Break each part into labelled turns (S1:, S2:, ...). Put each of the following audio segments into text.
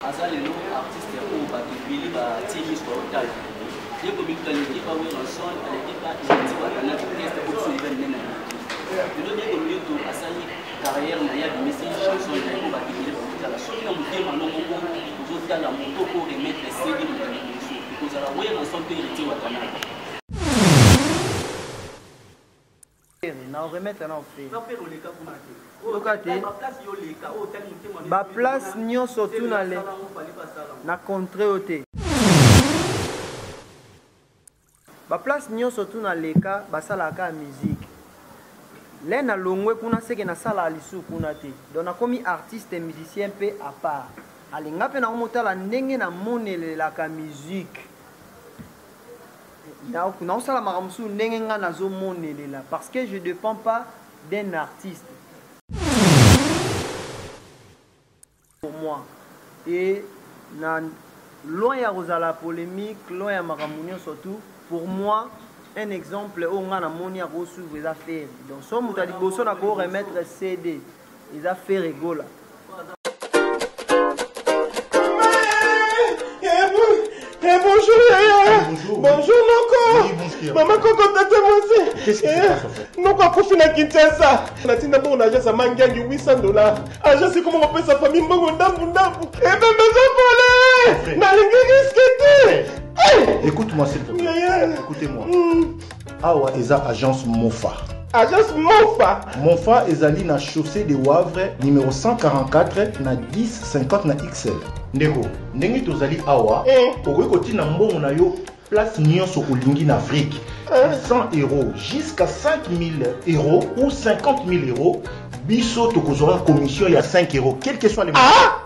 S1: aza lelo artiste oyo bato ebele batie miso baotala ye komikuta aleki pa werrason aleki pa eti batana orchestre obiso eza minene lelo ye komikutu asali carrière na ye abimisi chanson na ye oyo bato ebele baotala soki na motema no moko ozotala moto oko remettre sege moto liboso ekozala werrason mpe eriti watana baplace
S2: nyonso tuna le na contre yo te baplace nyonso tuna leka basalaka kaka musike le na longwe kuna seke nasalaka lisusu kuna te donc nakomi artiste musicien mpe apart alinga mpe nakomotala ndenge namonelelaka musike naosala makambo mosusu ndenge ngai nazomonelela parce que je dépend pas d'un artiste pour moi et na loin ya kozala polémique loin ya makambo nyonso tout pour moi un exemple oyo ngai namoni akosuivre eza fere donc so moto ya liboso nakoremettre cd eza
S3: fere gola Eh, bonjour yaya bonjour noko mama koko
S4: tata
S3: mwasi eh,
S4: noko akufi na kinshasa
S3: natinda bongo na agence ya mangiangi 800 dollar agence ekoma kopesa fami mbongo ndambu ndambu ebembe eh, ezopole nalingi riske te Écoute-moi, s'il te
S4: plaît. Écoutez-moi.
S3: Mm.
S4: Awa eza agence Mofa. Agence Mofa.
S3: Mofa ezali
S4: na chaussée de Wavre numéro 144 na 1050 na XL. Ndeko, ndenge tozali awa, eh. okoki kotina mbongo na yo place nyonso olingi na Afrique. 100 eh. euros jusqu'à 5000 euros ou 50 000 euros, biso tokozwa commission ya 5 euros, quel que soit le ah!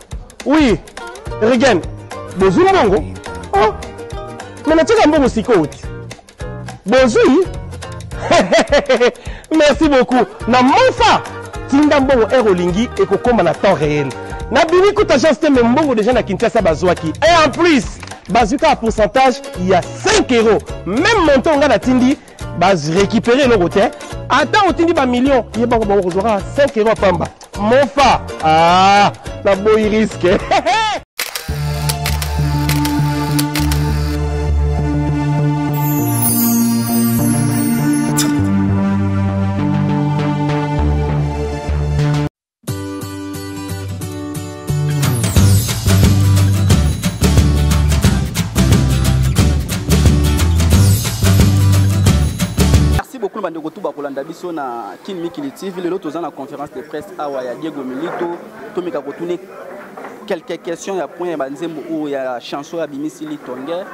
S3: Oui, Regen, bozwi mbongo? Oh, mais natika mbongo sikoyo te. Bozwi? Merci beaucoup. Na mofa, tinda mbongo heure olingi ekokoma na temps réel. Na bimi kuta agence te mais mbongo déjà na Kinshasa bazwaki. Et en plus, bazwi kaka pourcentage ya 5 euros. Même montant nga natindi baz récupérer eloko te ata otindi ba million ye bango bango kozwaka 5 euro pamba mofa ah, na boyi risque
S1: beaucoup na bandeko tu bakolanda biso na kin mikili tv lelo toza na conférence de presse awa ya diego milito tomeka kotune quelques questions ya point ya banzembo oyo ya chanson ya bimisi litonge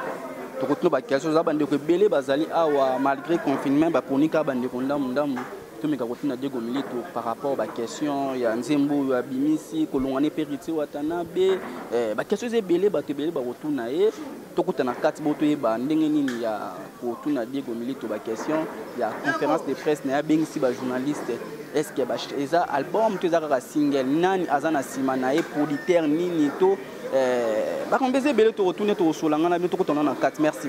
S1: tokotuna baquestion oza bandeko ebele bazali awa malgré confinement baponi kaka bandeko ndambu ndambu tomeka kotuna diego milito par rapport baquestion ya nzembo oyo abimisi kolongwa ne periti watanabe eh, baquestion eza ebele bato ebele bakotuna ye tokutana kati bo toyeba ndenge nini ya kotuna diego milito baquestion ya conférence de presse na ye abengisi bajournaliste estce eza album to eza kaka single nani aza na nsima na ye producteur nini to eh, bakambo eza ebele tokotuna tokosolangana bino tokutana na kati merci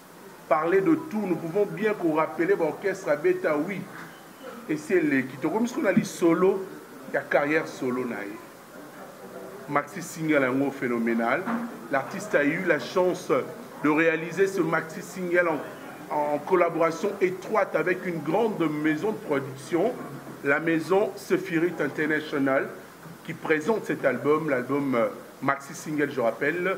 S5: parler de tout nous pouvons bien ko rappeler ba orchestre abeta oui esi eleki tokomi sikoyo na lisolo ya carrière solo na ye maxi single yango phénoménal l'artiste a eu la chance de réaliser ce maxi single en, en collaboration étroite avec une grande maison de production la maison Sephirit International qui présente cet album l'album euh, maxi single je rappelle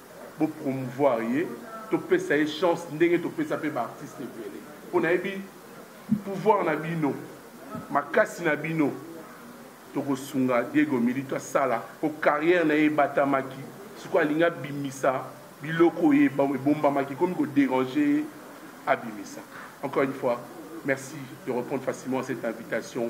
S5: Bo promouvoir ye, to pesa ye chance ndenge to pesa pe ba artistes ebele. Po na yebi pouvoir na bino, makasi na bino, toko sunga Diego Milito asala po carrière na ye ebatamaki. Sikoyo alingi abimisa biloko oyo ebombamaki, ekomi ko deranger ye, abimisa. Encore une fois, merci de repondre facilement à cette invitation.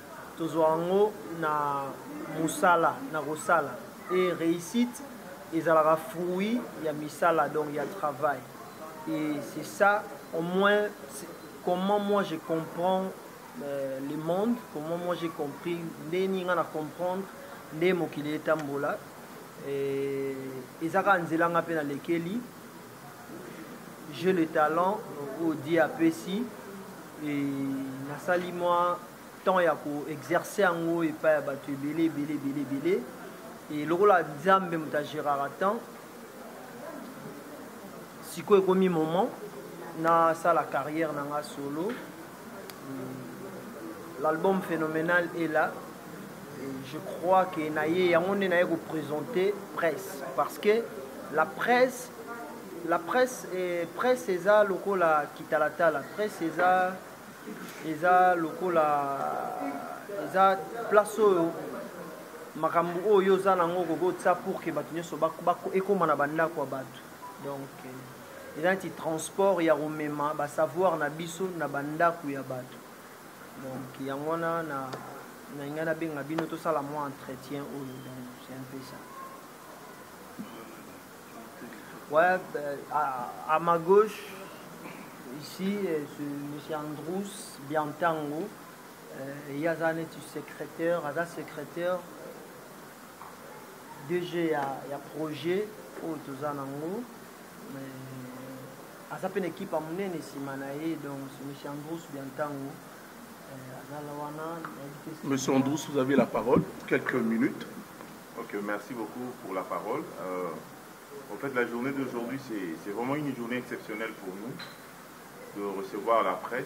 S2: Tozwa yango na mosala na kosala et reussite ezalaka fruit ya misala donc ya travail et c'est ça au moins comment moi je comprends euh, le monde comment moi j'ai compris nde nini nga na comprendre nde mokili etambola ezaka nzela nga mpe nalekeli je le talent oyo die apesi e nasali mwa temps ya koexerce yango epai ya bato ebele ebele ebele ebele e lokola nzambe moto agéraka temps sikoyo ekomi moment nasala carrière na nga solo L'album phénoménal est là. Et je crois que naye yango nde naye ko présenter presse parce que la presse la presse eh, presse eza lokola kitalatala presse eza eza lokola eza place oyo makambo oyo oza nango okoki otya pour ke bato nyonso ekóma na bandako ya bato donc eh, eza neti transport ya komema ba savoir na biso na ba ndaku ya batu donc yango wana na nalinga nabenga bino tosala mwa entretien oyo donc c'est un peu ça ouais, euh, à, à ma gauche ici euh, ce monsieur Androus Biantango euh, ye aza neti secrétaire aza secrétaire DG ya, ya projet oyo toza nango mais aza mpe na ekipe ya monene nsima na ye donc monsieur Andrus Biantango euh, azala wana
S5: Monsieur Andrus, vous avez la parole pour quelques minutes. Ok,
S6: merci beaucoup pour la parole. Euh, en fait, la journée d'aujourd'hui, c'est vraiment une journée exceptionnelle pour nous de recevoir la presse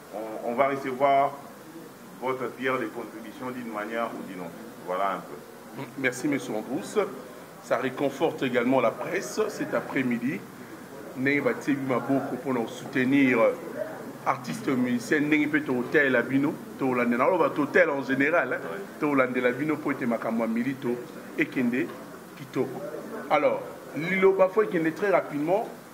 S6: On va recevoir votre pierre de contribution d'une manière ou d'une autre. Voilà un peu. Merci, M. Androus.
S5: Ça réconforte également la presse cet après-midi. ndenge batie bi maboko mpona kosoutenir euh, artiste musicien ndenge mpe tokotalela bino tokolandela aloba totele en général tokolandela bino mpo ete makambo ya milito ekende kitoko alors liloba fo ekende très rapidement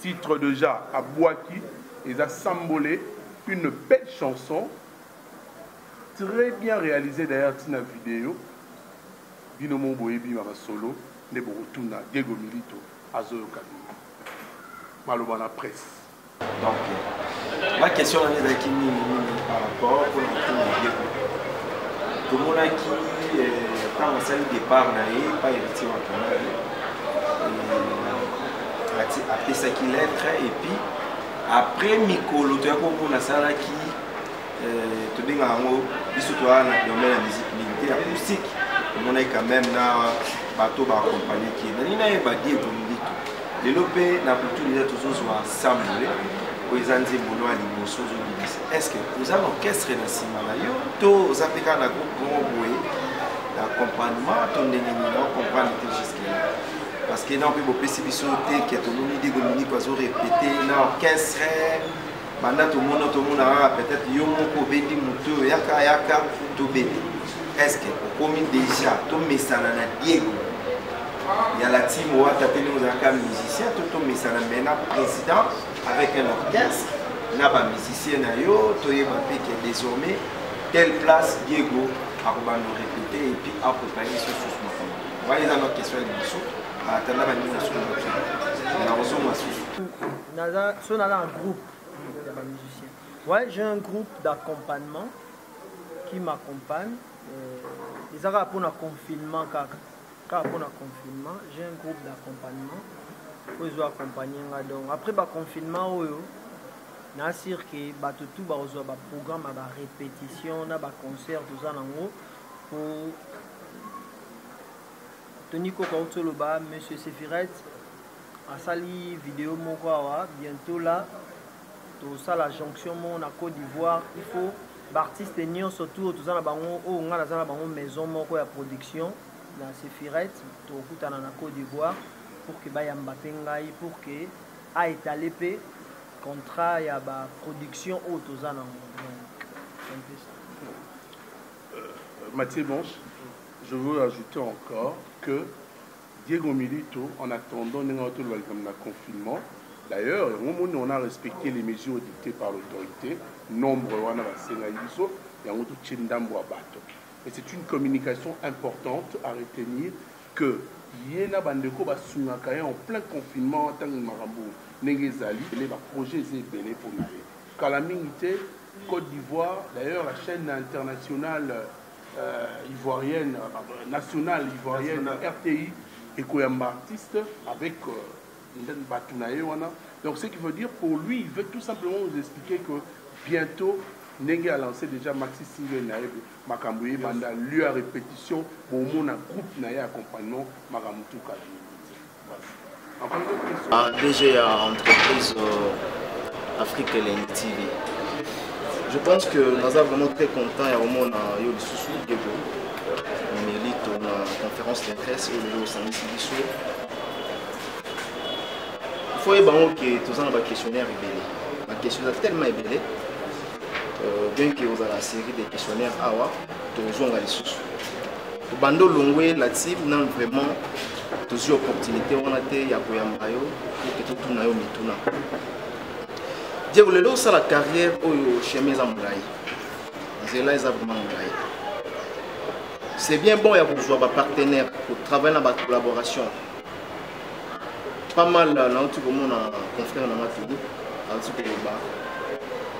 S5: Titre dejà abwaki eza sambole une belle chanson très bien réalisée d'ailleurs tina video bino mo boyebi ma masolo nde bokotuna Diego Milito azoyoka bino maloba na presse donc
S7: ma question nanga ezalaki nini nini par rapport mpona kotuna Diego tomonaki ntango asali départ na ye pa héritier wa kanari ati apesaki lettre et puis après mikolo toya koko nasalaki euh, tobengaka yango biso toya na domaine ya musique militaire acoustique omonaki quand même na bato baakompagne ki nani nayeba diego milito lelo mpe na butu deja tozozwa sambole oyo eza nzembo no ya liboso ozobimisa estce oza na orchestre na nsima na yo to oza mpe kaka na groupe moko boye na accompagnement to ndenge nini na ocomprendre te jusque là parce que na mpe bopesi biso te ke tomoni de dominique azo répété na orchestre banda tomona tomona kaka peut-être yo moko obendi motu oyo yaka yaka tobete est-ce que okomi déjà tomesana na diego ya la team wata te ndenge ozalaka musicien to tomesana me na président avec un orchestre na bamusicien na yo toyeba mpe ke désormais telle place diego akobanda répété epuis akopaye lisusu makambo Wana eza na
S2: question ya liboso atanda baningi na solo na kozonga susu naza so naza en groupe ya ba musicien ouais j'ai un groupe d'accompagnement qui m'accompagne euh, eza kaka mpona confinement kaka kaka mpona confinement j'ai un groupe d'accompagnement oyo ezo accompagne nga donc après baconfinement oyo na sur ke bato tu bakozwa baprogramme ya barépétition na baconcert toza nango mpo tony koko auti oloba monsieur sefiret asali video moko awa bientôt là tosala jonction moko na côte d'ivoire il faut baartiste nyonso tour toza na bango oyo oh, ngai naza na bango maison moko ya production na sefiret tokutana na côte d'ivoire pour ke bayamba mpe ngai pour ke aetale mpe contrat ya baproduction oyo toza nango
S5: Mathieu Mons, je veux ajouter encore que Diego Milito, en attendant ndenge auto lobaki comme na confinement, d'ailleurs yango moni on a respecté les mesures dictées par l'autorité, nombre wana basengaki biso yango totie ndambo ya bato. Et c'est une communication importante à retenir que ye na bandeko basungaka ye en plein confinement ntango makambo ndenge ezali ele baprojet eza ebele mpo na ye kala mingi te Cote d'Ivoire d'ailleurs la chaîne internationale euh, ivoirienne euh, nationale ivoirienne National. RTI ekoyamba artiste avec euh, bato na ye wana donc ce qui veut dire pour lui il veut tout simplement nous expliquer que bientôt ndenge alance déjà maxi single na ye makambo ye banda lieu ya répétition bomona groupe na ye accompagnement makambo tukala Ah, DG ya
S8: entreprise euh, Afrique Elengi TV. Je pense que naza vraiment très content ya komona yo lisusu Diego Melito na conférence de presse oyo lelo osangisi biso. Il faut yeba yango ke toza na baquestionnaire ebele. Baquestion eza tellement ebele euh, bien que ozala série de questionnaire awa tozonga lisusu. obanda olongwe la team nanu vraiment tozwi opportunité wana te ya koyamba yo ete totuna yo mituna diego lelo osala carrière oyo chemin eza molai nzela eza vraiment molai c'est bien bon ya kozwa bapartenaire kotravaille na bacollaboration pas mal euh, nauti komona confrère na nga togo auti koloba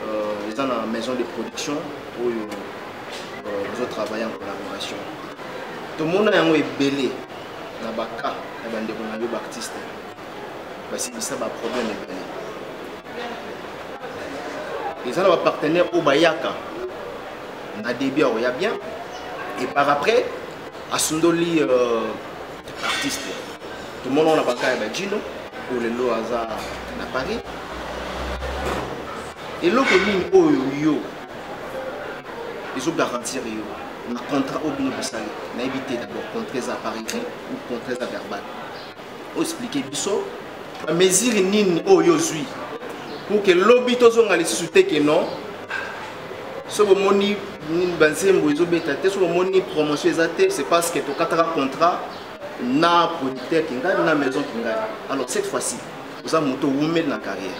S8: euh, eza na maison de production oyo euh, bozo travaille en collaboration tomona yango ebele na baka ya bandeko na yo baartiste basilisa baproblème ebele eza na bapartenaire oyo bayaka na début akoya bien et par après asundoli euh, artiste tomona na baka ya bajino oyo lelo aza na paris eloko nini oyo yo ezo garantir yo na contrat oyo bino bosali nayebi te d'abord contrat eza par écrit ou contrat eza verbal oexplike biso bamesure nini oyo ozwi pour ke lobi tozonga lisusu te ke non soki omoni banzembo ezobeta te soki omoni promotion eza te c'est parce que tokataka contrat na producteur kingani na maison kingani alors cette fois-ci oza moto owumeli na carrière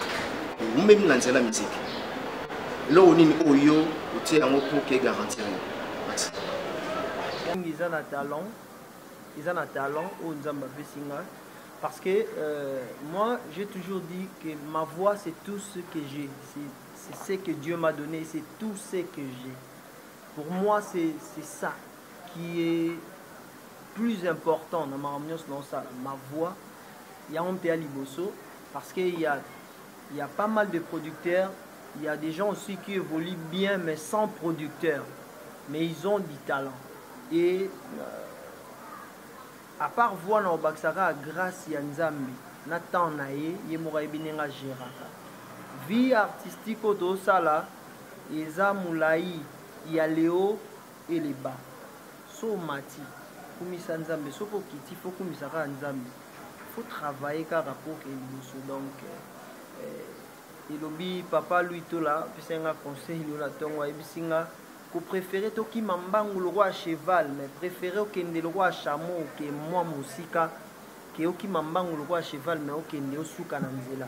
S8: owumeli na nzela miziki eloko nini oyo yo otie yango mpo ke garantir yo
S2: mingi eza na talent eza na talent oyo nzambe apesi nga parce que euh, moi j'ai toujours dit que ma voix c'est tout ce que j'ai c'est ce que dieu m'a donné c'est tout ce que j'ai pour moi c'est ça qui est plus important na makambo nyonso naosala ma voix yango mpe ya liboso parce que ya Il ya pas mal de producteurs, il ya des gens aussi qui évoluent bien mais sans producteur. Mais ils ont du talent. Et euh, à part voix na obakisa kaka grâce ya nzambe na temps na ye ye moko ayebi ndenge agéraka vie artistique oyo tozosala eza molai ya leo Eleba. Soki omati, kumisa Nzambe. Soki okiti, il faut okumisa kaka Nzambe. Il faut travailler kaka po okende liboso. Donc, eh, elobi papa Louis Tola, apesaki nga conseil lelo na tongo, ayebisi nga ko préférer tokima mbangu lokola cheval, mais préférer okende lokola chameau ke mwa mosika, ke okima mbangu lokola cheval, mais okende osuka na nzela.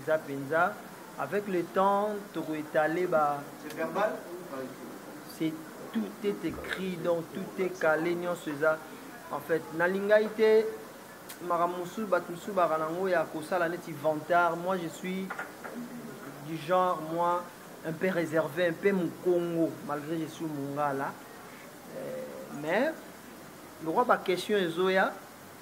S2: eza penza avec le temps toko étaler ba
S7: c'est
S2: tout est écrit donc tout est calé nyonso eza en fait nalingai te makambo mosusu bato mosusu baka nango ya kosala neti vantard moi je suis du genre moi un peu réservé un peu mokongo malgré je suis mongala euh, mais lokwa baquestion ezoya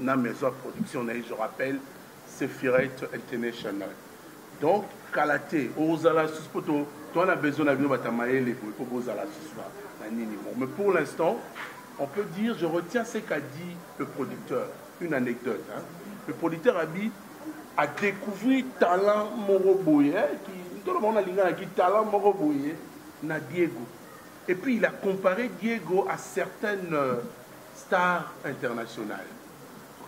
S5: na maison ya production na ye je rappelle sephiret international donc kala te ozala susu mpo toa na besoin na bino bata mayele boye mpo bozala susu na nini mo mais pour l'instant on peut dire je retiens ce qu'a dit le producteur une anecdote hein? le producteur a dit a découvrir talent moko boye ntolo bango nalinganaki talent moko boye na diego et puis il a comparé diego à certaines euh, Star international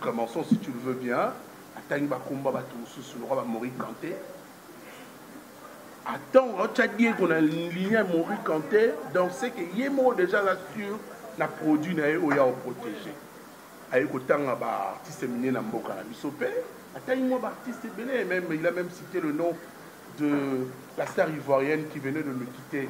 S5: clemenson si tu le veux bien atangi bakombo ya bato mosusu lokola ba mori kante atango aotya diego na ligne ya mori kante donc ce que ye moko déjà aza sur na produit na ye oyo ya oprotege aye kotanga baartiste mine na mboka na biso mpe atangi mwa baartiste ebele meme il a même cité le nom de la star ivoirienne qui venait de nous quitter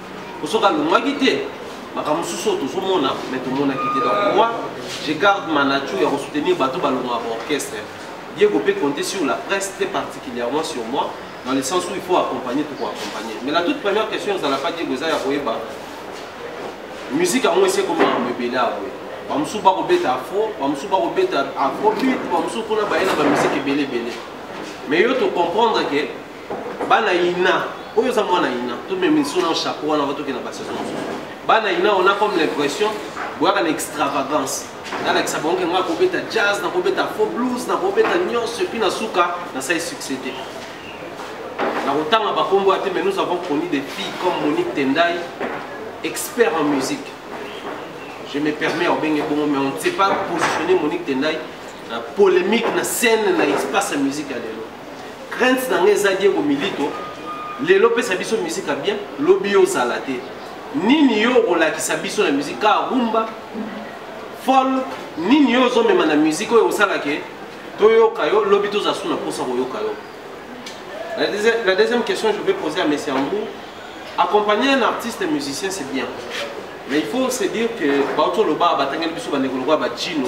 S3: osoki alongaki te makambo mosusu oyo tozomona me tomonaki te donc moi je garde ma nature ya kosoutenir bato balongaka orchestre diego mpe compte sur la presse très particulièrement sur moi dans le sens où il faut accompagner toko accompagner mais la toute première question ezala mpa diego eza ya koyeba musique yango esi ekoma makambo ebele ya boye bamosusu bakobeta afro bamosusu bakobeta afrobit bamosusu kuna baye na bamusike ebele ebele mais yo tocomprendre ke bana ina oyo oza mwana ina tomemiso na chapeau wana va tokenda basaison mosusu bana ina on a comme l'impression boyaka na extravagance nalakisa bango ke ngai nakobeta jazz nakobeta faux blues nakobeta nyonso epuis na suka nasali succès te nakotanga bakombo ya te mais nous avons connu des filles comme monique tendai expert en musique je me permets obenge bongo mais on ne sait pas positionner monique tendai na polémique na scène na espace ya musique ya lelo crainte na ngai eza diego milito lelo pesa biso musique ya bien lobi ozala te nini yo okolakisa biso na musique kaka rumba folk nini yo ozomema na musique oyo osala ke toyoka yo lobi tozala su na mposa koyoka yo la deuxième, la deuxième question je vais poser à monsieur ambou accompagner un artiste musicien c'est bien mais il faut se dire que bautoloba batangeli biso bandeko lokola bacino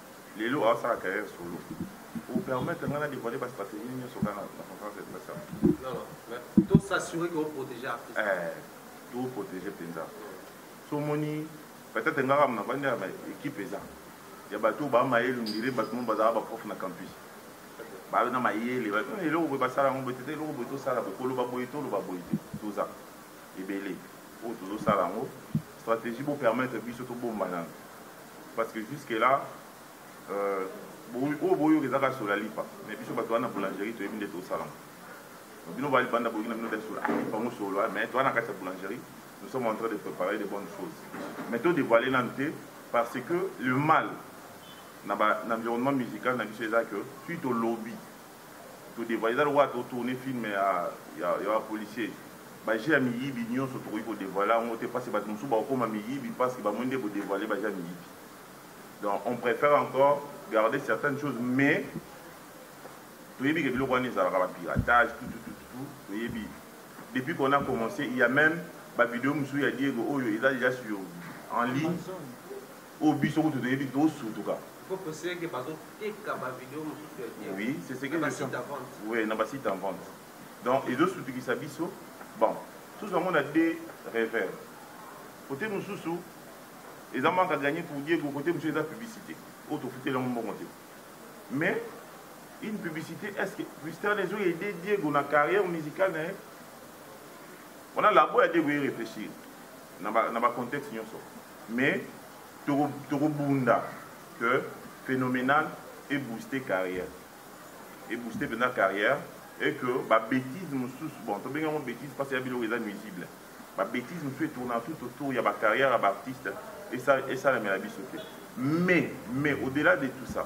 S6: Lelo azo sala carrière solo. O permettre nga na devoiler ba strategies nionso kaka na conférence de presse awa. Non non, mais
S3: to s'assurer que o proteger artiste. Eh, to
S6: proteger penza. So moni peut-être nga kaka na vandi ya équipe eza. Ya bato ba mayelu ndire bato mo bazala ba prof na campus. Ba na mayele, ba tuna eloko boye basala yango boye te, eloko boye tosala boye, koloba boye toloba boye te. Toza ebele oyo tozosala yango stratégie bo permettre biso tobomba nanu parce que jusque là euh, oyo boyoka eza kaka sola lipa mais biso bato wana boulangerie toyebi nde tosalama bino balibanda boyoki na bino nde sola lipa ngo solo mais toa na kati ya boulangerie nous sommes en train de préparer de bonnes choses mais to dévoile nanu te parce que le mal na, ba, na environnement musical na biso eza que tu tolobi To devoile eza lokola to tourner film ya ya ya ba policiers. Ba jeux ya miyibi nionso tokoki ko devoiler yango te parce que batu mosusu bakokoma miyibi parce que ba moni nde ko devoiler ba jeux ya miyibi. Donc on prefère encore garder certaines choses mais toyebi ke biloko wana ezalaka ba piratage tout tout tout tout toyebi depuis qu'on a commencé il y a même ba video mosusu ya Diego oyo eza déjà sur en ligne Oyo biso kutu toyebi te tosutuka. Faut préciser que
S3: bazo teka ba video mosusu ya bien. Oui, c'est ce
S6: que je suis. Oui, na ba site en vente. Donc ezo sutukisa biso. Bon, tous on a des rêveurs. Côté mosusu eza manque à gagner pour Diego, côté mosusu eza publicité. Autre fouté la mbongo côté. Mais une publicité, est-ce que Christian Ezo a aidé Diego dans la carrière musicale hein? On a la boîte à Diego y réfléchir. Dans le contexte, nous sommes. Mais toko toko bunda que phenomenal e booster carrière e booster penza carrière et que ba betises mosusu bon tobengi yango betise parce ya biloko eza nuisible ba betises mosusu e tournaka tout autour ya ba carrière ya ba artistes esalemela biso te mais mais au delà de tout ça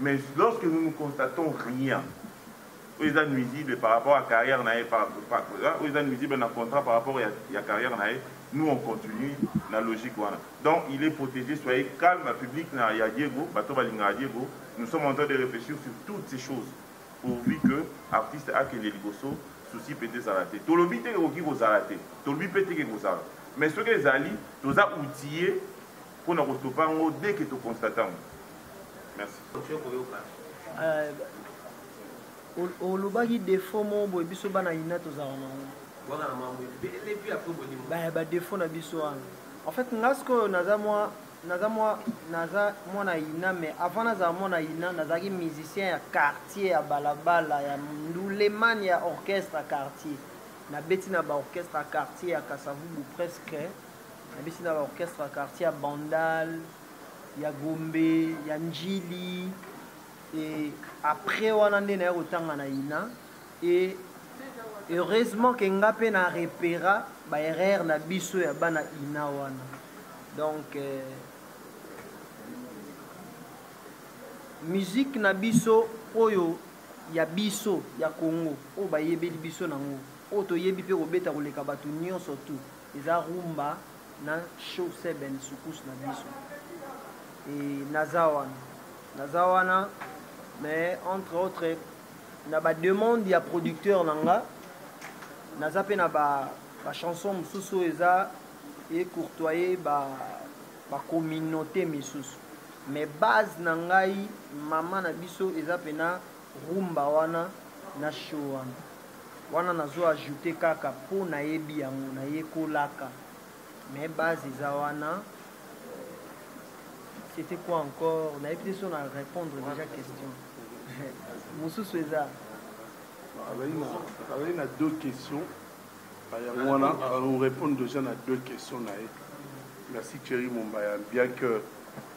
S6: Mais lorsque nous ne constatons rien oyo eza nuisible par rapport ya carrière na ye, oyo eza nuisible na contrat par rapport ya carrière na ye, nous on continue na logique wana. Donc il est protege, soyez calme public na ya Diego, bato balingaka Diego, nous sommes en train de reflechir sur toutes ces choses pourvu que artiste akende liboso, souci mpenza ezala te. Tolobi te ekoki kozala te, tolobi mpe te ke kozala, mais soki ezali toza outiller mpo na kostopa yango dès que toconstata yango.
S2: olobaki defo mo boye biso bana ina tozala nango badefo na biso wana en fait nga sikoyo naza mwa naza mwa naza mwana ina mais avant nazala mwana ina nazalaki musicien ya quartier ya balabala ya nduleman ya orchestre ya quartier nabeti na baorchestre ya quartier ya kasavubu presque nabeti na baorchestre ya quartier ya bandal ya gombe ya njili e après wana nde naya kotanga na ina e heureusement ke nga mpe na repera baerreur na biso ya bana ina wana donc eh, musique na biso oyo ya biso ya congo oyo bayebeli biso nango oyo toyebi mpe kobeta koleka bato nyonso tout Eza rumba na show seben soukous na biso et naza wana naza wana mais entre autres na ba demande ya producteur na nga naza mpe na ba ba chanson mosusu oyo eza ecourtoye ba ba communauté misusu mais base na ngai mama na biso eza mpena Rumba wana na show wana. Wana nazo ajouter kaka po nayebi yango, nayekolaka. Mais base eza wana. C'etait quoi encore? Nayebi te soki na repondre dejà question. Mosusu eza?
S5: Azali na deux questions. Yango wana, o repondre dejà na deux questions na ye. Merci Thierry Mombaya. Bien que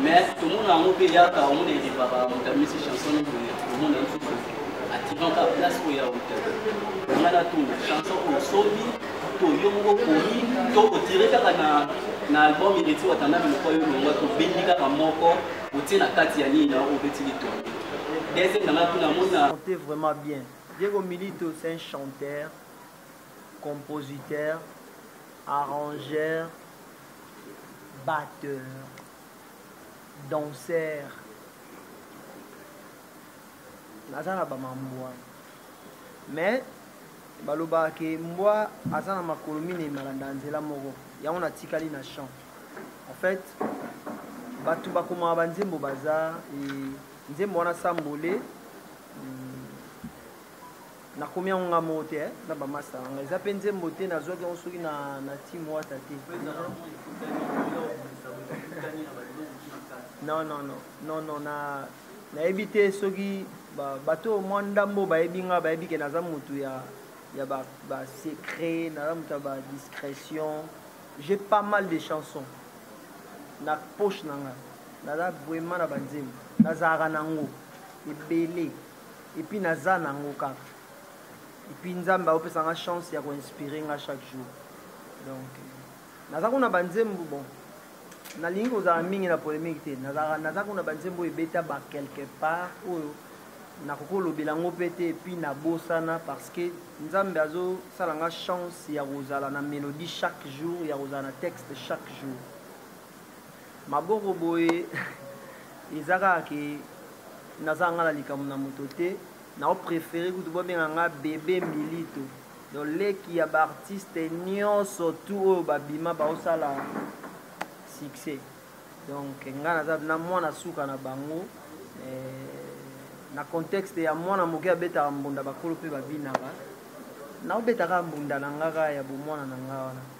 S1: mais tomona yango mpe eyaka omona elevaka moto amisi chanson nini boye omona lisusu ativaka place oyo ya wuta nanga natuna chanson oyo osomi to yo moko okomi to otire kaka na na album eleti watanami moko yo longwa tobendi kaka moko otie na kati ya nini na obeti litongo deuxième nanga tuna mona monte vraiment bien
S2: diego milito c'est un chanteur compositeur arrangeur batteur danseur naza na bamambwa mais balobaka ke mbwa aza na makolo minei malanda ya nzela moko yango natikali na champ en fait bato bakomaka banzembo baza e, nzembo wana sambole mm, nakomi yango nga moko te eh, na bamasta nanga eza mpe nzembo te nazwaki yango soki na, na tim wata te non non non non non na nayebi te soki bato oyo mwa ndambo bayebi nga bayebi ke naza motu ya ya basecret ba naza motu ya badiscrétion j'ai pas mal de chansons na poche na nga naza vraiment na banzembo nazalaka na yango ebele epuis naza nango kaka epuis nzambe aopesa nga chance ya koinspire nga chaque jour donc naza kuna banzembo bon nalingi kozala mingi na polemique te naza kuna banzembo ebeta ba quelque part oyo nakoki kolobela yango mpe te epuis nabosana parce que nzambe azosala nga chance ya kozala na mélodie chaque jour ya kozala na texte chaque jour maboko boye eza kaka ke naza nga na likambo na moto te nao prefere kutu bobenga nga bebe milito donc leki ya baartiste nyonso tu oyo babima baosala succès donc nga naza na mwana suka na bango eh, na contexte ya mwana moke abetaka mbunda bakolo mpe babinaka naobetaka mbunda na ngaka ya bomwana na nga wana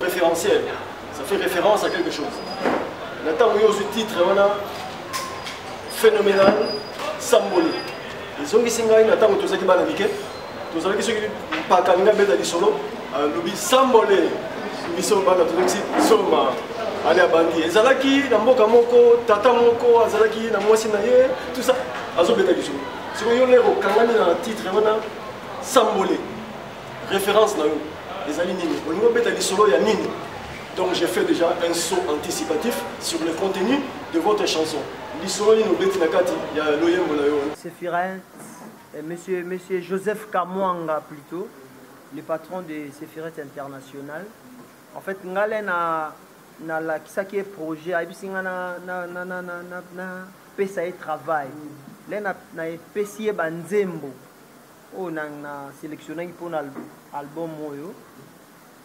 S5: Référentiel,
S9: ça fait référence à quelque chose. Na ntango yo ozwi titre wana phénoménal samboli ezongisi ngai na ntango tozalaki bana mike tozalaki soki mpaka alingi abeta lisolo alobi sambole biso bana tozongisi soma ale abandi ezalaki na mboka moko tata moko azalaki na mwasi na ye tout ça azobeta lisolo sikoyo yo lere okangani na titre wana sambole référence na yo ezali nini olingi obeta lisolo ya nini donc j'ai fait déjà un saut anticipatif sur le contenu de votre chanson lisolo nini obeti na kati ya loyembo
S2: na yo sefiret eh, monsieur, monsieur joseph kamwanga plutôt le patron de sefiret international en fait ngale na nalakisaki ye projet ayebisi nga napesa ye travail le napesi ye banzembo oyo na, na selectionnaki mpo na album oyo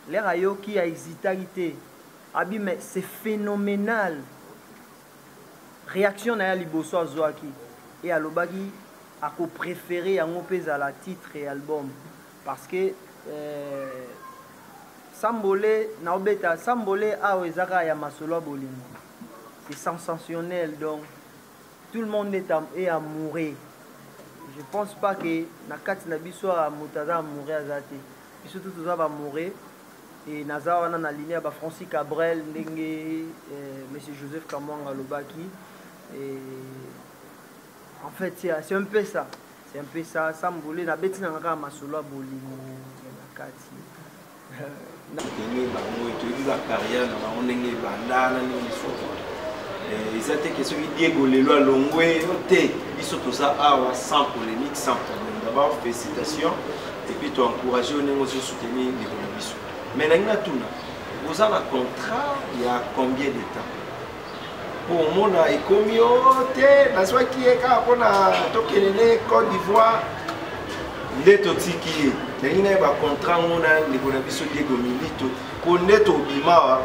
S2: lere ayoki ahesitaki te abi mais c'est phénoménal réaction na ye ya liboso azwaki e alobaki akopréféré yango mpe ezala titre ya album parce que euh, sambole naobeta sambole awa eza kaka ya masolo ya bolingo c'est sensationnel donc tout le monde est, est amoureux je pense pas que na kati na biso moto aza amoureux aza te biso tout toza ba amoureux e naza wana na ligne ya ba francis cabrel ndenge eh, monsieur joseph kamwanga alobaki eh, en fait c'est un peu ça c'est un peu ça sambole nabeti nanga kaka masolo ya bolingo ya na kati
S7: ndenge bango toyebi bacarrière na bango ndenge ebanda na ndenge lisusu eh, eza te ke soki diego lelo alongwe yo te biso toza awa sans polémique sans problème d'abord félicitation epuis toencourage yo ndenge ozo soutenir ndeko na biso mais nangi natuna oza na contrat ya combien de temps Pour omona ekomi o oh, te nazwaki ye kaka mpona tokende ne Côte d'Ivoire nde totiki ye nalingi na ye bacontrat ngo na ndeko na biso diego milito mpo nde tobimawa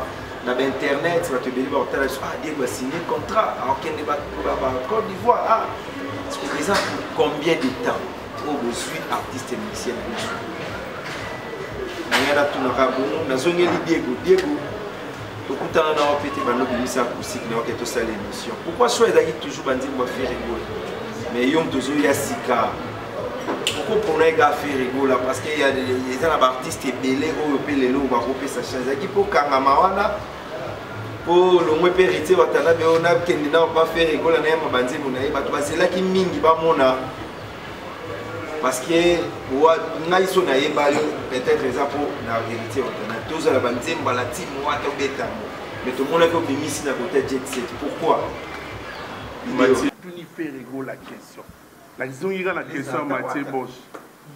S7: na bainternet bato ebele bakotala biso ah diego asigne contrat akokende bacote d'ivoire ah eza combien de temps oyo bozwi artiste musicien na biso ngai natunaka bongo nazongeli diego diego tokutana na wapi te bando bimisa acoustique na yoke tosala émission pourquoi choix ezalaki toujours banzembo ya ferregola mais yo moto ozoya sika okopona ega ferregola parce que eza na baartiste ebele oyo mpe lelo bakopesa chance ezalaki mpo kangama wana mpo longwe mpe héritier watanabe oyo nakende nao mpa ferregola nayamba banzembo na ye bato bazelaki mingi bamona parce que ngai so nayeba yo peut-être eza mpo na verité otana tozala banzemba na ti mwa tobetango mais tomonaki obimisi na kota jet set pourquoi tuni
S5: ferego
S7: la
S5: question nazongi kaka na question ya matie bosch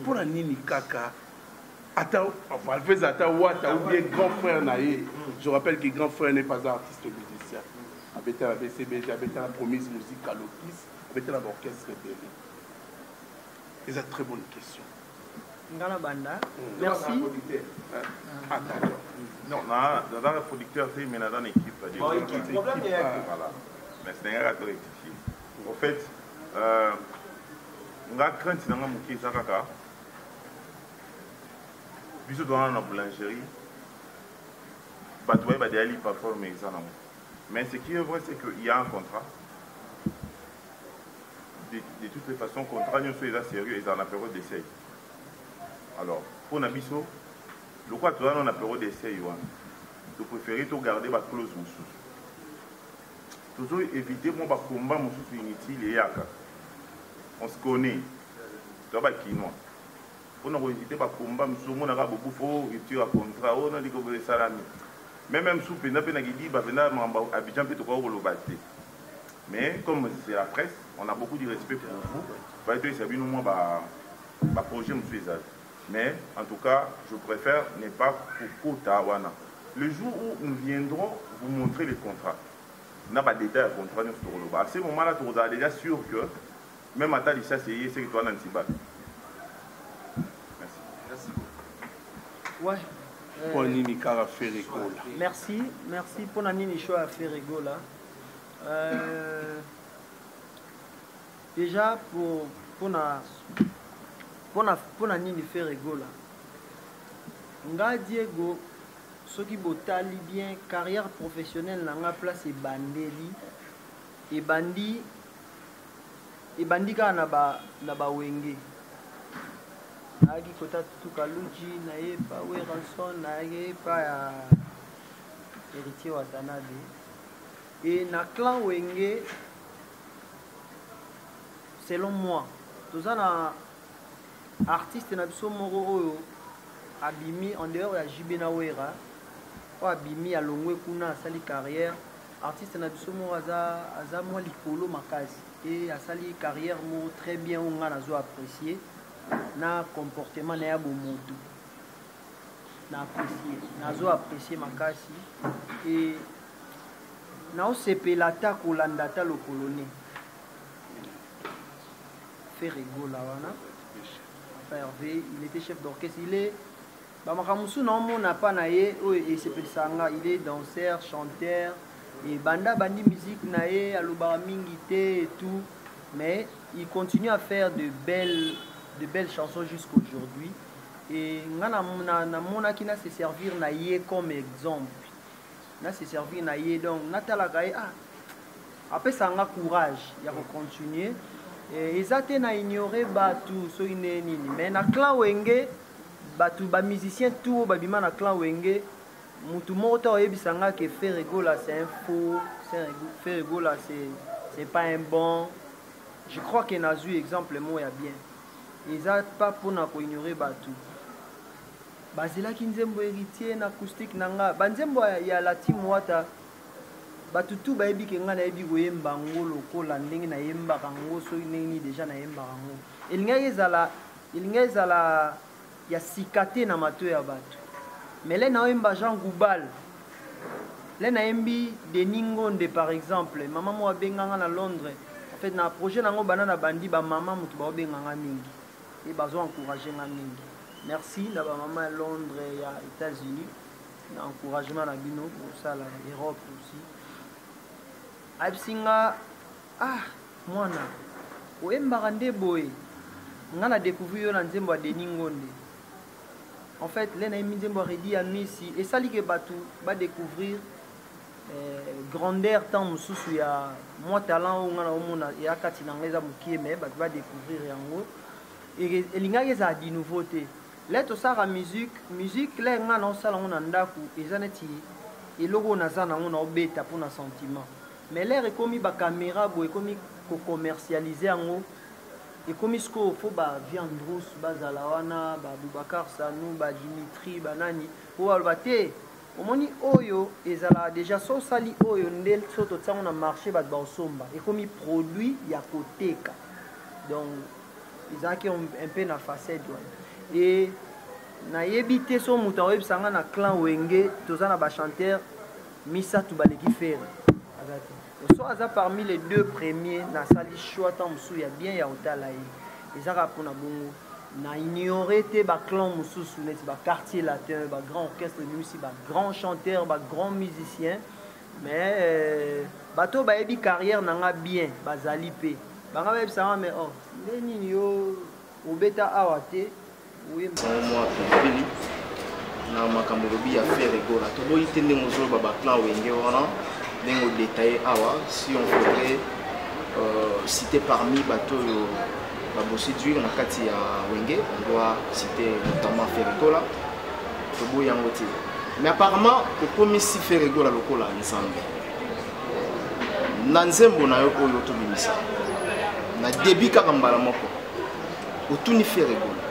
S5: mpo na nini kaka ata valvez ata wata ou bien grand frère na ye je rappelle que grand frère n'est pas artiste musicien abeta na bcbg abeta na promise musique alokis Obeta na ba orchestre ebele. Eza très bonne question. Nga na
S2: banda. Hmm. Merci.
S6: Ah, ah, d'accord. Non, na naza na producteur te mais naza na équipe. Bon, équipe, problème
S9: ya équipe. Voilà.
S6: Mais c'est nga to rectifier. En fait, euh nga crainte na nga moke eza kaka biso towana na boulangerie bato baye badeya lipa forme eza nango Mais ce qui est vrai, c'est qu'il y a un contrat. De, de toutes les façons, contrat nyonso eza sérieux, eza na période d'essai. Alors, pour na biso, lokola toza na période d'essai wana, to préférer to garder ba clause mosusu. Tozo éviter mwa ba combat mosusu inutile eyaka. On se connaît. Toza ba kinois. pona ko eviter ba combat misusu omona kaka bokufa o oh, rupture ya contrat o oh, na ndenge boye esalami mais même sous penda pe na kidiba penda mamba Abidjan pe tokoki koloba te mais comme c'est la presse on a beaucoup de respect pour vous baye toyesa bino mwa ba ba projet mosusu ezali mais en tout cas je préfère ne pas kokota wana le jour où nous viendrons vous montrer les contrats na ba détails ya contrat nyonso tokoloba à ce moment là tokozala déjà sûr que Meme ata lisasi eye seke toana nsiba. Merci. Merci beaucoup.
S2: Ouais. Euh, mpo nini kaka feregola merci merci mpo na nini show ya feregola euh, déjà pour mpona mpona mpona nini faire egola nga diego soki botali bien carrière professionnelle na nga place ebandeli ebandi ebandi kaka na ba na ba wenge nayaki kota tutu kaluji naye pa weranson nayaki pa ya héritier watanabe e na clan wenge selon moi toza na artiste na biso moko oyo abimi en dehors ya JB na Wera oyo abimi alongwe kuna asali carrière artiste na biso moko aza aza mwa likolo makasi et asali carrière moko très bien oyo ngai nazo apprécier na comportement na ya bomotu na apprécier nazo apprécier makasi et naosepela ata kolanda ata lokolone Ferre Gola wana Papa Hervé il était chef d'orchestre il est bamaka mosusu naomona pa na ye oyo esepelisa nga il est danseur chanteur ebanda bandi musique na ye alobaka mingi te et tout mais il continue à faire de belles de belles chansons jusqu'aujourd'hui et nga namonaki na se servir na ye comme exemple na se servir na ye donc natalaka ye ah apesa nga courage ya kocontinue eh, eza te na ignore bato soki nde nini mais na clan wenge bato bamusicien tout oyo babima na clan wenge motu moko to oyebisa nga ke ferregola c'est un faux ferregola c'est pas un bon je crois que nazwi exemple moko ya bien eza pas mpona koignore bato Bazelaki nzembo Heritier na acoustique na nga. Ba nzembo ya La Team Wata bato tout bayebi ke nga nayebi koyemba ngo lokola ndenge nayembaka ngo soki ndenge nini deja nayembaka ngo. Elingaki ezala elingaki ezala ya sika te na mato ya bato. Mais le naoyemba Jean Goubal le nayembi Denis Ngonde par exemple, mama moko abenga nga na Londres. En fait na projet na ngo banda na bandi ba mama moto baobenga nga mingi. et bazo encourager nga mingi merci na ba maman ya Londres ya Etats-Unis na encouragement na bino bosala Europe aussi ayebisi nga ah mwana oyembaka nde boye nga na découvrir yo na nzembo ya Denis Ngonde en fait le nayembi nzembo ya Redi ya Misi esali ke bato ba découvrir eh, grandeur temps mosusu ya mwa talent oyo ngai naomona eya kati na ngai eza mokie mai bato badécouvrir yango elingaki ezala di nouveau te le tosalaka musique musique le ngai naosala yango na ndako eza neti eloko oyo naza nango naobeta mpo na sentiment mais lere ekomi bacaméra boye ekomi kocommercialise yango ekomi sikoyo fo baviande rousse bazala wana baboubacar sanu badimitri banani oyo baloba te omoni oyo ezalaka deja so osali oyo nde so totia yango na marché bato baosomba ekomi produit ya koteka donc ezalaki un peu na facette wana e nayebi te so moto akoyebisa ngai na clan wenge toza na bachanteur misato baleki fere aza te soit aza parmi les deux premiers nasali choix ntango mosusu ya bien ya kotala ye eza kaka mpona bongo na ignore te baclan mosusu neti baquartier latin bagrand orchestre ebimisi bagrand chanteur bagrand musicien mais euh, bato oyo bayebi carrière na nga bien bazali mpe banga bayebisanga mais oh nde nini yo obeta awa te
S8: na makambo olobi ya fere gola toboyi te ndenge ozoloba baplan wenge wana ndenge odetaille awa si on faudrait euh, citer parmi bato oyo babosidwire na kati ya wenge on doit citer notamment fere gola toboyi yango te mais apparemment okomisi fere gola lokola nzambe na nzembo na yo oyo tobimisa na debi kaka mbala moko otuni fere gola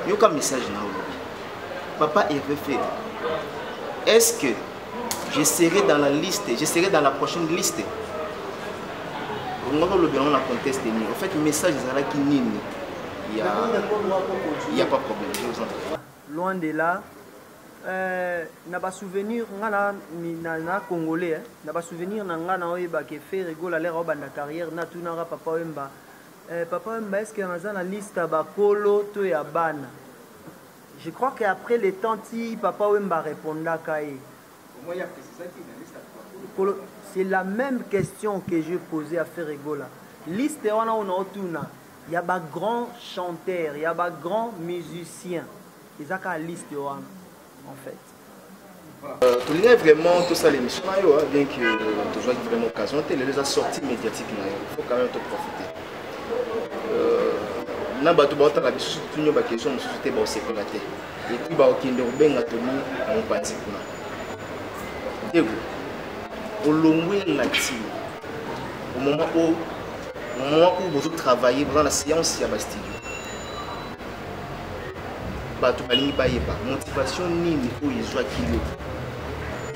S8: yoka message na yo papa herve fere est ce que je serai dans la liste je serai dans la prochaine liste olingaki olobi yango na conteste nini au fait message ezalaki nini ya ya pas problème je vous entends loin de là
S2: euh, na basouvenir nga na, na, na congolais eh, na basouvenir na nga na oyebaka efere gola lere obanda carrière natunaka papa oyemba Eh, papa Wemba, est-ce que naza na liste ya bakolo to ya bana? Je crois que après le temps ti papa Wemba répondaka ye. Kolo, c'est la même question que je posais à Ferregola. Liste wana ona otuna ya ba grands chanteurs, ya ba grands musiciens. Ezaka liste wana en fait. Euh, tolingai vraiment
S8: tosala émission na yo bien que tozwaki vraiment occasion te lelo eza sortie médiatique na yo faut quand même toprofite euh, na bato baotala biso soki tunio bakestion mosusu te baosepela te epuis baokende kobenga toni na mopanzi kuna diego olongwe na ntina au moment oyo au moment oyo bozotravaille boza na séance ya bastudio bato balingi bayeba motivation nini oyo ezwaki yo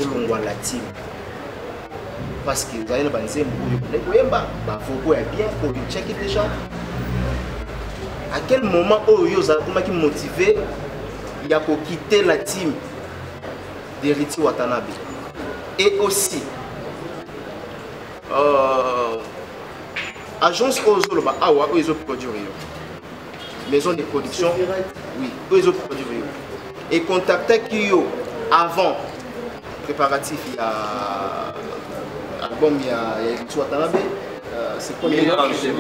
S8: olongwa latine parce que ozali na banzembo oyo ozali koyemba bavoko ya bien oyo otyaki déjà à quel moment oyo yo ozakomaki motive ya kokite la team d'heriti watanabe et aussi euh, agence oyo ozoloba awa oyo ezoproduire yo maison de production oui oyo ezoproduire yo econtactaki yo avant préparatif ya album ya eritsu watanabe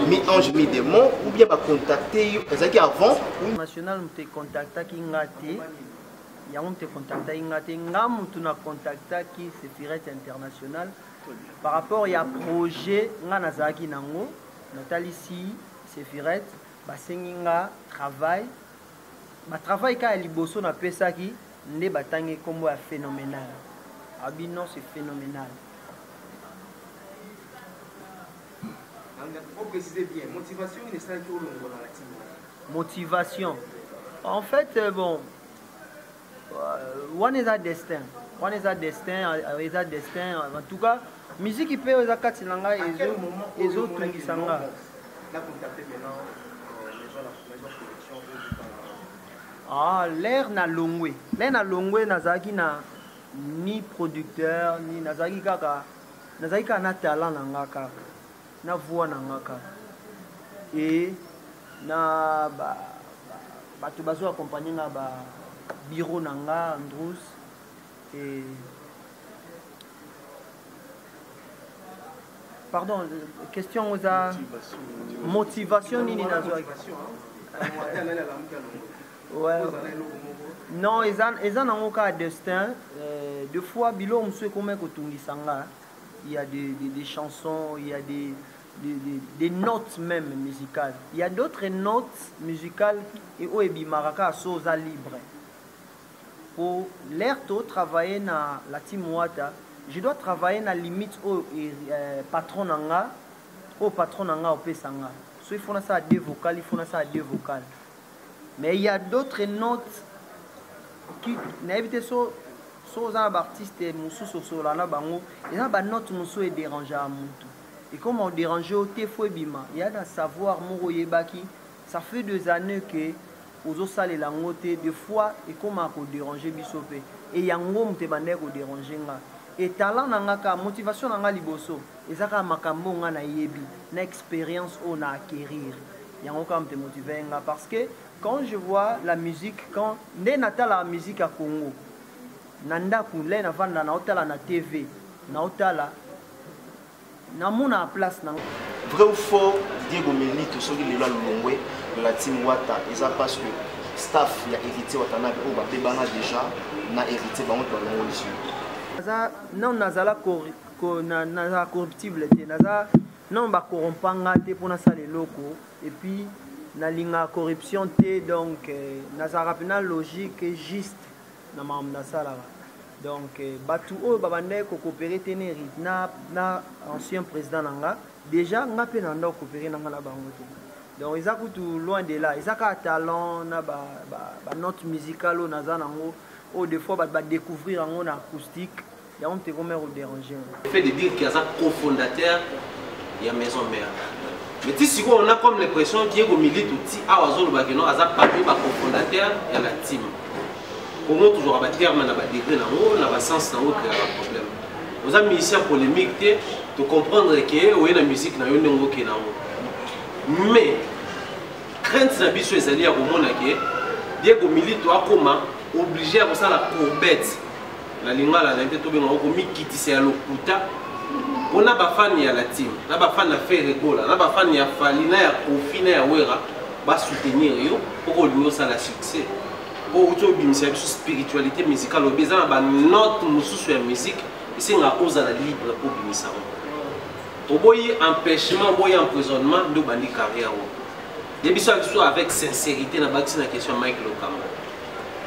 S8: mi-ange mi-démon ou bien bacontacte yo ezalaki avant national moto
S2: econtactaki nga te yango moto econtactaki nga te nga motu na contactaki sefiret international par rapport ya projet nga nazalaki nango natalisi Sefirete, basengi nga travail, ba travail ka ya liboso na pesaki nde batangi kombo ya phenomenal. Abi non c'est phenomenal.
S8: Motivation.
S2: En fait, euh, bon, wana eza destin wana eza destin euh, eza destin euh, en tout cas miziki mpe oyo eza kati na ngai ezotungisa nga ah, lere na longwe lere na longwe nazalaki na ni producteur ni nazalaki kaka nazalaki kaka na talent na nga kaka na voix na nga kaka e na ba Bato bazo accompagner nga ba bureau na nga Andrews et pardon question yango eza motivation nini nazwaki ouais. non eza, eza nango kaka destin euh, de fois biloko mosusu ekomaki kotungisa nga il y a des, des, des chansons il y a des des, des, des notes même musicales. Il y a d'autres notes musicales et au ebimaraka soza libre. Pour l'air to travailler na la team Wata, je dois travailler na limite au euh, patron nanga, au patron nanga au pesanga. So il faut na ça à deux vocales, il faut na ça à deux vocales. Mais il y a d'autres notes qui na évité so so oza na ba artiste mosusu osolola na bango eza ba note mosusu ederangea motu Ekoma o derange yo te faut ebima ya na savoir moko oyebaki ça fait des annees que ozo salela yango te de fois ekoma ko derange biso pe et ya ngo moto ebandaki ko derange nga et talent na nga ka motivation na nga liboso eza kaka makambo oyo nga na yebi na experience oyo na acquerir yango ka moto emotiver nga parce que quand je vois la musique quand nde na talaka musique ya Congo na ndaku lay na vanda na otala na TV na otala namona place na vrai ou faux
S8: diego melito soki lelo alongwe la team wata eza parce que staff ya héritier watanabe oyo babebana déjà na héritier bango te balongolisi naza
S2: non nazala nazala corruptible te naza non bakorompa nga te mpo nasala eloko epuis nalingaka corruption te donc euh, nazalaka mpena logique juste na makambo nasalaka donc euh, bato oyo babandaki kokopere te ne na, na ancien président na nga déjà nga mpe na banda kokopere na nga na bango te donc eza kutu loin de là eza kaka talent na banote ba, ba musicale oyo naza nango oyo des fois bato badécouvrir yango na acoustique yango mpe komere oderange fait de dire que aza
S3: cofondateur ya maison mère mais ti sikoyo na comme l'impression diego militu ti awa azolobaki no aza parmi bacofondateur ya la team kongo tozwaka baterme na badegré na yango na basens na yango ekreaka problème oza musicien polémique te tocomprendre ke oye na musique na yo ndenge oke na yango mais crainte na biso ezali ya komona ke diego militu akoma oblige ya kosala courbette na lingala na ye mpe tobenga yango komikitisa ya lokuta mpo na bafani ya latine na bafani ya ferre gola na bafani ya fali na ya kofi na ya wera basoutenir yo mpo kolingi osala succès mpo outi obimisa biso spiritualité musicale obi eza na banote mosusu ya musique esengaka ozala libre mpo obimisa yango oboyi empêchement oboyi emprisonnement nde obandi carrière yango ye biso ya biso avec sincérité na bakisi na question ya mike lokamba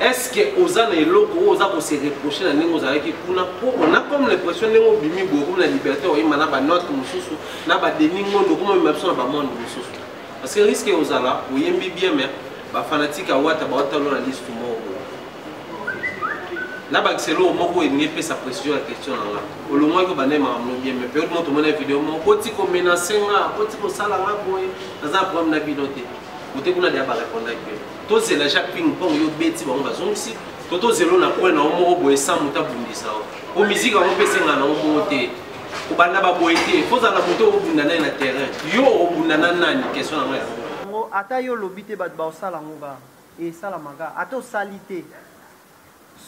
S3: est-ce que oza na eloko oyo oza ko se reprocher na ndenge ozalaki kuna po on a comme l'impression ndenge obimi boye okomi na liberté oyima na banote mosusu na badeni ngondo okoma oyima biso na bamonde mosusu parce que risque ozala oyembi bien mais bafanatike awata baotalo na liste moko na bakiselo moko elingi epesa précision ya question na nga olongwaki obanda ye makambo bien mais periode moko tomona video moko koti komenase nga koti kosala nga boye naza na problème na bino te ote kuna deya barepondaki yo tozela jacques ping pong yo beti bango bazongisi to tozelo na coin na yo moko boye sans moto abundisa yo po miziki yango mpe esenga na yo moko te kobanda baboye te fozala na moto obunda naye na terrain yo obunda na nani question yango yango ata yo olobi
S2: te bato baosala yango kaka esalamaka ata osali te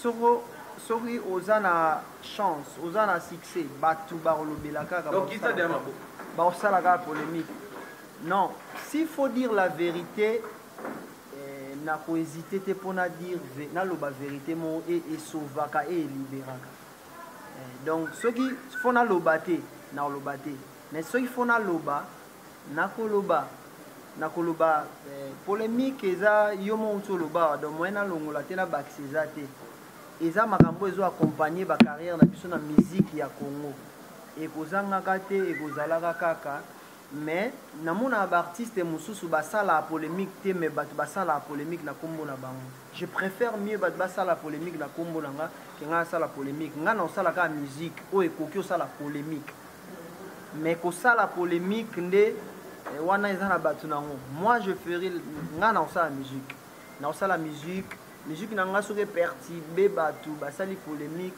S2: soko soki oza na chance oza na succès bato bakolobela kaka
S3: baosala kaka
S2: polémique non s'il faut dire la vérité Eh, na ko hésiter te mpo na dire naloba verite moko e esauvaka e eliberaka eh, donc soki fo naloba te nakoloba te mais soki fo naloba nakoloba nakoloba eh, polemique eza yo moko nti olobaka donc moyen nalongola te nabakisa eza te eza makambo ezo accompagne bacarrière na biso na miziki ya congo ekozangaka te ekozalaka kaka Mais namonaka ba artistes mususu basalaka polemique te mais batu basalaka polemique na kombo na bango. Je prefère mieux batu basala polemique na kombo na nga que nga nasala polemique. Nga nakosala kaka musique oyo ekoki osala polemique. Mais kosala polemique nde wana eza na batu na ngo. Moi je ferai nga nakosala musique. Nakosala musique, musique na nga soki eperturbe batu basali polemique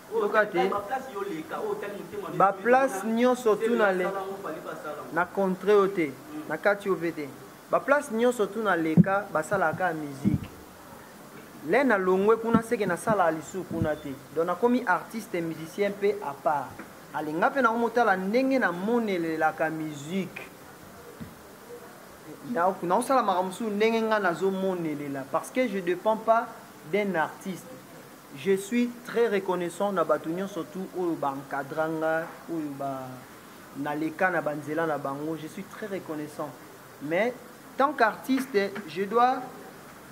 S2: yoka te baplace nyonso tuna le na contre yo te mm. na kati yo mpe te baplace nyonso tuna leka basalaka kaka miziki le na longwe kuna seke nasalaka lisusu kuna te donc nakomi artiste musicien mpe apart alinga mpe nango motala ndenge namonelelaka miziki naosalamaka mosusu ndenge ngai nazomonelela parce que je dépend pas d'un artiste Je suis très reconnaissant na batu nionso tout oyo ba encadra nga oyo ba na leka na ba nzela na bango je suis très reconnaissant mais tant qu'artiste je dois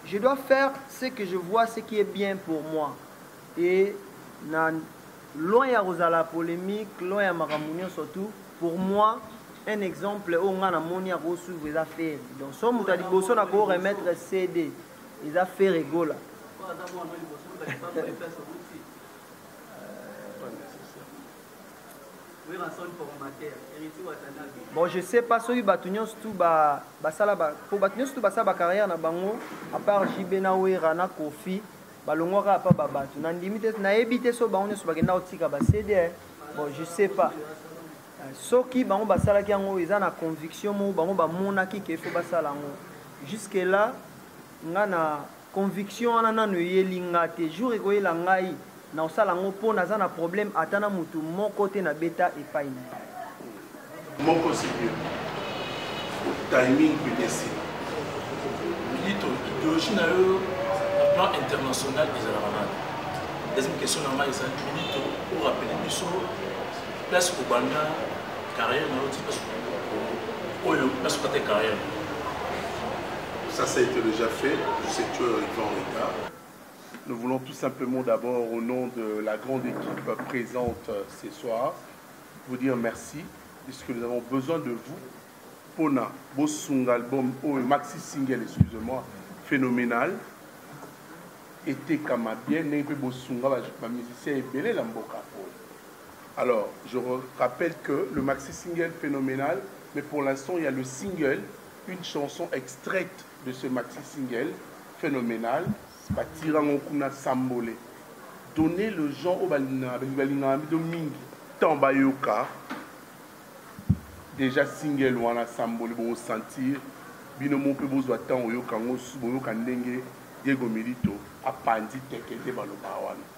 S2: je dois faire ce que je vois ce qui est bien pour moi et na loin ya kozala polemique loin ya makambo nyonso tout pour moi un exemple oyo ngai namoni akosuivre eza feri donc so moto ya liboso na koremettre cd eza fere gola bon je sais pas soki bato nyonso tu basala po bato nyonso tu basala bacarrière na bango apart jb na wera na kofi balongwaka apa babato nandimi te nayebi te so bango nyonso bakenda kotika basede eh. bon je sais pas Soki bango basalaki yango eza na conviction moko bango bamonaki ke faut basala yango. Jusque là nga na conviction wana nanu eyeli nga te. Jour ekoyela ngai nakosala yango mpo naza na problème ata na mutu moko te na beta epai na ye.
S5: Moko seigneur. Timing pdc. Milito,
S10: ideologie na yo na plan international ezalaka nani? Deuxième question na ngai ezali milito, o rappeler biso place
S5: kobanda carrière na yo ti place oyo place okata carrière ça ça a été déjà fait je sais que tu es arrivé en retard nous voulons tout simplement d'abord au nom de la grande équipe présente euh, ce soir vous dire merci puisque nous avons besoin de vous pona bosunga album oyo maxi single excusez-moi phénoménal etekama bien ndenge mpe bosunga bamusicien ebele na mboka Alors je rappelle que le maxi single phenomènal mais pour l'instant il y a le single une chanson extraite de ce maxi single phénoménal batirango kuna sambole donner le gens oyo balingaka balingaka bido mingi ntango bayoka déjà single wana sambole bokosentir bino moko mpe bozwa ntango oyoka yango boyoka ndenge diego milito apanzi teke nde baloba wana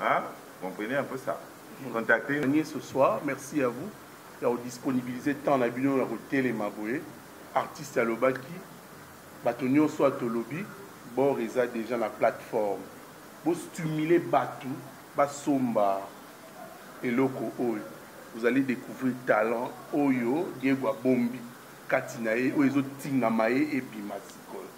S6: Hein? Comprenez un peu ça. Contactez. Gagner ce soir. Merci
S5: à vous. ya kodisponibilize temps na bino ya kotelema boye artiste alobaki bato nyonso ya tolobi bor eza deja na plateforme bostimule bato basomba eloko oyo vous allez découvrir talent oyo diego abombi kati na ye oyo ezotingama ye ebima sikoyo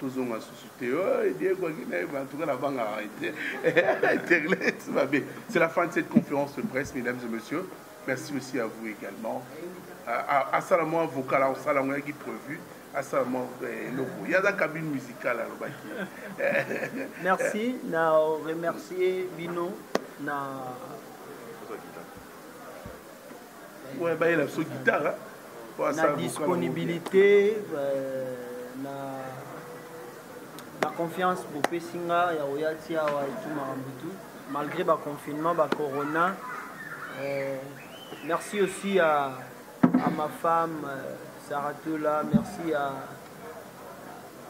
S5: tozonga susu te diego akenda ye en tout cas nabangaka ye te internet mabe c'est la fin de cette conférence de presse mesdames et messieurs merci aussi à vous également asala mwa vocal akosala yango yaki prévu asala mwa eh, eloko ye aza cabine musicale alobaki merci
S2: na remercier bino na
S5: oyo bayela biso guitare na
S2: disponibilité euh, na baconfiance bopesi nga ya koya ti awa etu makambo tu malgré baconfinement bacorona euh, merci aussi à, à ma femme euh, saratola merci à,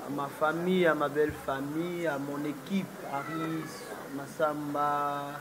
S2: à ma famille à ma belle famille à mon équipe aris masamba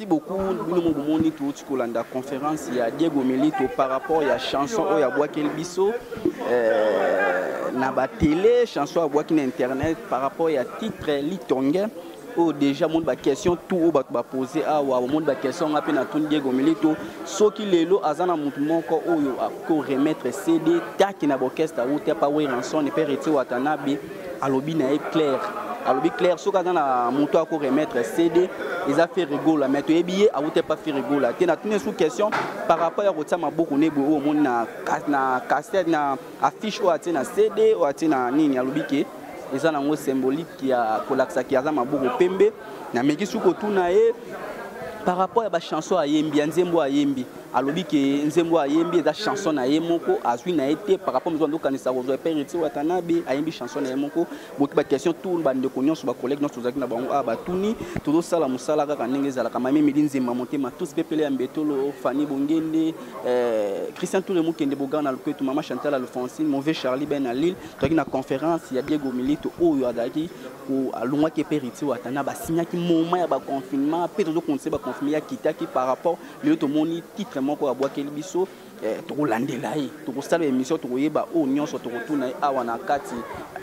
S1: Merci beaucoup bino mo bomoni touti kolanda conférence ya Diego Milito par rapport ya chanson oyo abwakeli biso euh, na ba télé chanson abwaki na internet par rapport ya titre litonge oyo oh, déjà omoni baquestion tout oyo oh, bato bapose awa ah, omoni baquestion nga mpe natuni diego milito soki lelo aza na motu moko oyo akoremettre cd taki na baorchestre auti apa weranson mpe retie watanabe alobi na ye claire alobi claire soki aza na moto ako remettre cd eza ferigola mais toyebi ye awuta epa ferigola te natuni esu question par rapport ya kotia maboko ne boye oyo omoni na cassette na affiche oyo atie na cd oyo atie na nini alobi ke eza nango symbolique ya kolakisa ke aza maboko pembe nameki su kotuna ye par rapport ya bachanson ayembi ya nzembo ayembi alobi ke nzembo ayembi eza chanson na ye moko azwi na ye te par rapport mozo andokanisa kozwa epai retire watanabe ayembi chanson na ye moko boki baquestion tour bandeko nyonso bacollègue nyonso tozalaki na bango awa batuni tozosala mosala kaka ndenge ezalaka mame midi nzemba motema tous pepele ya mbetolo fani bongende eh, christian toure mokende bogar na loketu mama chantal alfonsine move charlie ben na lille tozalaki na conférence ya diego milito oyo azalaki alongwaki epai retire watanabe asignaki moment ya baconfinement mpe tozokontinue baconfinement ya kitaki par rapport lelo tomoni titre moko abwakeli biso eh, tokolandela ye tokosala émission tokoyeba oyo nyonso tokotuna ye awa na kati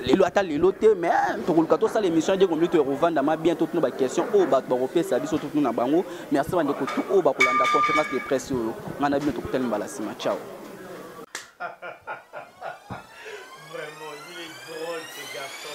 S1: lelo ata lelo te mais eh, tokoluka tosala émission ede kombi toekovandama bien totuna baquestion oyo bato bakopesa biso totuna bango merci bandeko tu oyo bakolanda conférence de presse oyo ngai na bino tokutani mbala nsima ciao Vraiment,
S8: il est drôle ce garçon.